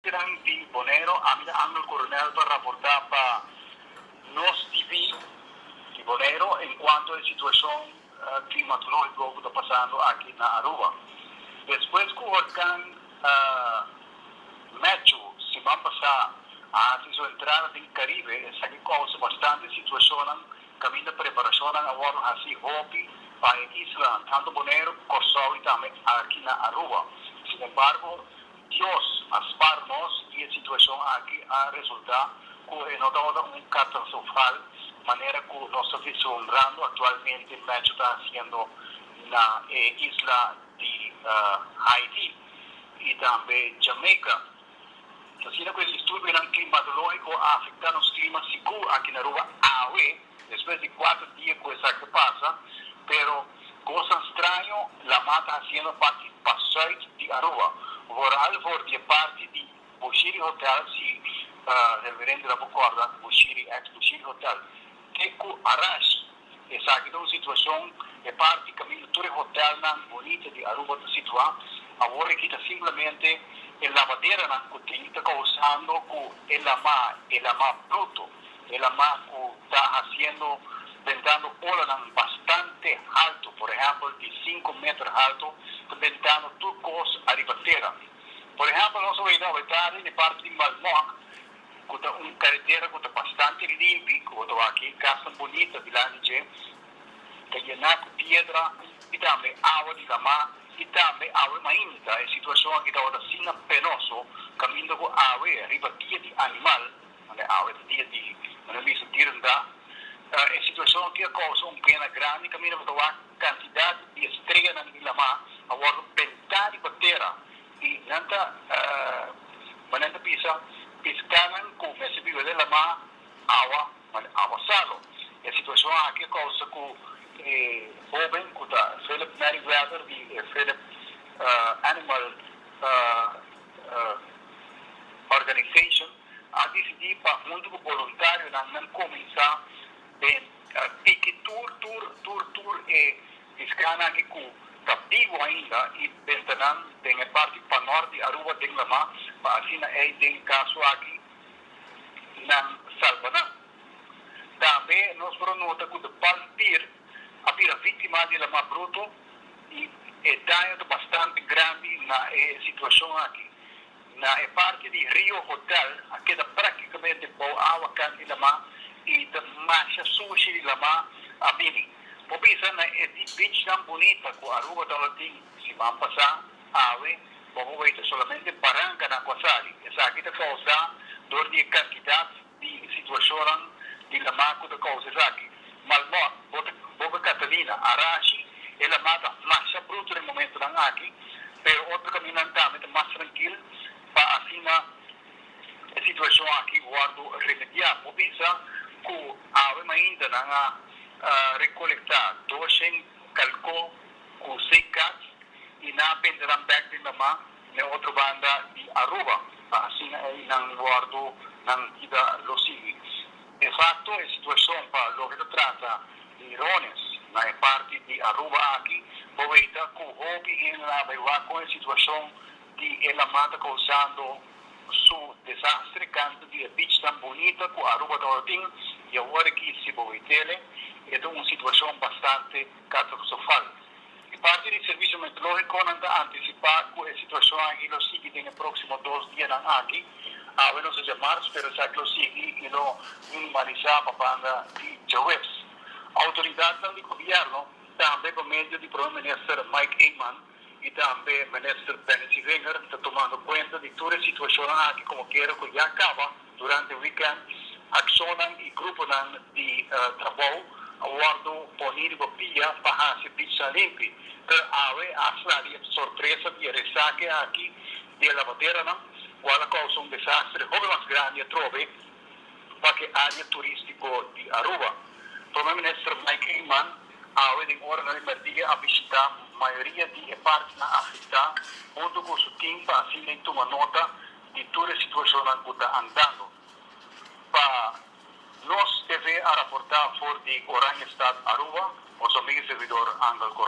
Gran di Bonero, ami ta Angel Coronel pa raporta pa Nos TV di Bonero en cuanto e situacion climatologico cu ta pasando aki na Aruba. Despues cu Horcan Matthew siman pasá a haci su entrada den e Caribe, esaki causa bastante situacionnan caminda preparacionnan a wordo haci hopi pa e islanan, tanto Bonero cu Corsou y tambe aki na Aruba. Sin embargo. Dios a spar nos i e situacion aki a resulta cu e no tabata un catansofal manera cu nos ta vislumbrando actualmente Matthew ta haciendo na e isla di Haiti i tambe Jamaica. Asina cu e disturbionan climatologico a afecta nos clima sigur aki na Aruba awe. Despues di cuater dia cu esaki a pasa, pero cosnan straño Lamar ta haciendo parti pa Zuid di Aruba, vooral voor di e parti di Bushiri Hotel, si Reverendo ta por corda, Bushiri, ex Bushiri Hotel, Teku Arash. Esaki ta un situacion, e parti caminda tur e hotelnan bonita di Aruba ta situa, awor aki ta simplemente e lavaderanan cu tin ta causando cu e lama, e lama bruto. E la mas cu ta haciendo bentando olanan bastante halto, por ehempel di cinco meter halto, ta bentando tur cos ariba tera. Por ehempel nos a wega awedaden e parti di Malmok, cu ta un caretera cu ta bastante limpi, cu bo ta wak aki casnan bunita dilanti dje, ta yena cu piedra y tambe awa di lama y tambe awe mainta. E situacion aki tabata asina penoso, caminda cu awe riba dia di animal. Manera awe ta dia di manera mester di renta. Ta e situacion aki a causa un pena grandi caminda bo ta wak cantidad di estreanan di lama a wordo benta riba tera y nan ta manera nan ta bisa pescanan cu mester biba den lama awa manera awa salo. E situacion aki a causa cu e hoben cu ta Phillip Merryweather di e Phillip Animal Organization, a disidí pa huntu ku boluntarionan nan kuminsá den tiki tur tur tur tur e piskánan aki ku ta bibu ainda i benta nan den e parti panòrt di Aruba den lama pa asina ei den e kaso aki nan salba nan. Tambe nos por a nota ku de Palm Pier a bira víktima di lama bruto i e daño ta bastante grandi na e situashon aki. Na e parti di Rio Hotel a keda praktikamente bou awa kan di lama i ta masha sushi di lama a bini. Por bisa na e di beachnan bunita ku Aruba tabata-tin siman pasá, awe bo por weta solamente barankanan ku a sali. Esaki ta kausá dor di e kantidat. di situacionnan di lama cu ta causa esaki. Malmor, Boca Catalina, Arashi, e lama ta masha bruto den momentonan aki, pero otro caminnan tambe ta mas trankil pa asina e situacion aki wordo remediá. Bo bisa cu awe mainta nan a recolecta doshen calco cu seis cats y nan a pendenan bek den lama. Den otro banda di Aruba, ta asina ei nan wòrdu nan bida lo siguiente. En fakto, e situashon pa loke ta trata di rones na e parti di Aruba aki, bo weta ku hopi hende a bai wak kon e situashon di e laman ta kousando su desastre kanta di e beach tan bunita ku Aruba ta ora tin. I awor aki, si bo bai tele, e ta un situashon bastante katastrofal. Di parti di Servicio Meteorológico nan ta anticipá cu e situacion aki lo sigui den e próximo dos dianan aki. Awe nos ta dja marts pero esaki lo sigui y lo minimalisá pa banda di djaweps. Autoridadnan di Gobierno tambe pa medio di Prome Minister Mike Eman y tambe Minister Benny Siewinger ta tumando cuenta di tur e situacionnan aki como kere cu ya caba. Durante weekend, akshonnan i gruponan di trabou a wòrdu poní riba pia pa hasi bichnan limpi. P'e awe a sla di e sorpresa di e resake aki di e lavaderanan, kual a kousa un desastre hopi mas grandi atrobe pa ke área turístiko di Aruba. Prome Minister Mike Eman awe den oranan di mèrdia a bishitá mayoria di e partinan afektá huntu ku su tim pa asina i tuma nota di tur e situashonnan ku ta andando. Pa nos TV a raportá for di Oranjestad Aruba, Mozambique, Servidor Angel Coronel.